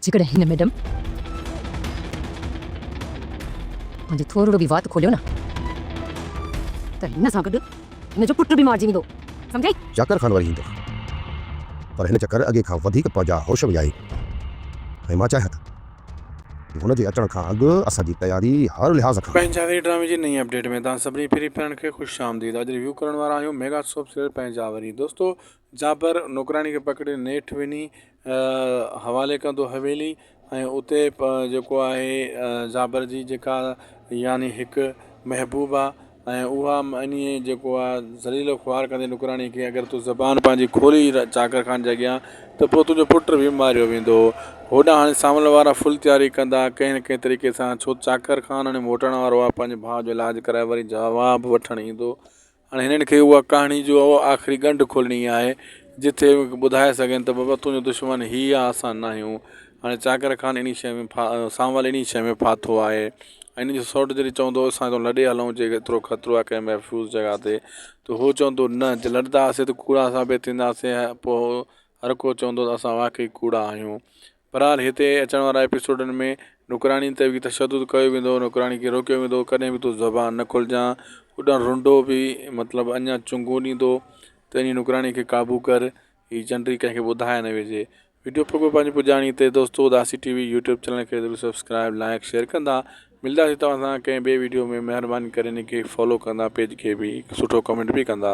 جيڪڏهن هن ميڊم منهنجي ٿورڙو به وات کوليو نه ته هن سان گڏ هن جو پٽ به مارجي ويندو سمجهيئي. چاڪر خان وري ايندو پر هن چڪر اڳي کان وڌيڪ پنهنجا هوش وڃائي ۽ مان چاهيان ته. هن جي اچڻ کان اڳ اسان جي تياري هر لحاظ کان. پنهنجي آخري ڊرامي جي نئين اپڊيٽ ۾ توهان سڀني پھرين پھرين کي خوش آمديد اڄ ريويو ڪرڻ وارا آهيون ميگا سوپ سيريل پنهنجا وري دوستو جابر نوڪراڻي کي پڪڙي نيٺ وڃي حوالي ڪندو حويلي ۽ اتي جيڪو آهي جابر جي جيڪا يعني هڪ محبوبا ۽ اها معني جيڪو آ ذليل و خوار ڪندي نوڪراڻي کي اگر تون زبان پنهنجي کولي چاڪر خان جي اڳيان ته پوء تنهنجو پٽ به ماريو ويندو هوڏانهن هاڻي سانول وارا فل تياري ڪندا ڪنهن نه ڪنهن طريقي سان ڇو ته چاڪر خان هاڻي موٽڻ وارو آ پنهنجي ڀاء جو علاج ڪرائي وري جواب وٺڻ ايندو هاڻي هنن کي اها ڪهاڻي جو آخري ڳنڍ کولڻي آهي جتي ٻڌائي سگهن ته بابا تنهنجو دشمن هي آ اسان ناهيون هاڻي چاڪر خان انهي شيء ۾ ڦا سانول انهي شيء ۾ ڦاٿو آهي ۽ هن جو سئوٽ جڏهن چوندو اسان ته لڏي هلون جي ايترو خطرو آهي ڪنهن محفوظ جڳهه تي ته هو چوندو نه جي لڏنداسين ته ڪوڙا ثابت ٿينداسين ۽ پوء هر ڪو چوندو ته اسان واقعي ڪوڙا آهيون بهرحال هتي اچڻ وارا ايپيسوڊن ۾ نوڪراڻين تي به تشدد ڪيو ويندو نوڪراڻين کي روڪيو ويندو ڪڏهن به تون زبان نه کولجان اڏڻ رنڊو به مطلب اڃا چونگون ڏيندو ته انهي نوڪراڻي کي قابو ڪر هي جنڊي ڪنهن کي ٻڌائي نه ويجهي. وڊيو پڳو پنهنجي پڄاڻي تي دوستو اداسي ٽي وي يوٽيوب چينل کي ضرور سبسڪرائب لائيڪ شيئر ڪندا ملداسي توهان سان ڪنهن ٻي وڊيو ۾ مهرباني ڪري هن کي فالو ڪندا پيج کي به هڪ سٺو ڪمينٽ به ڪندا.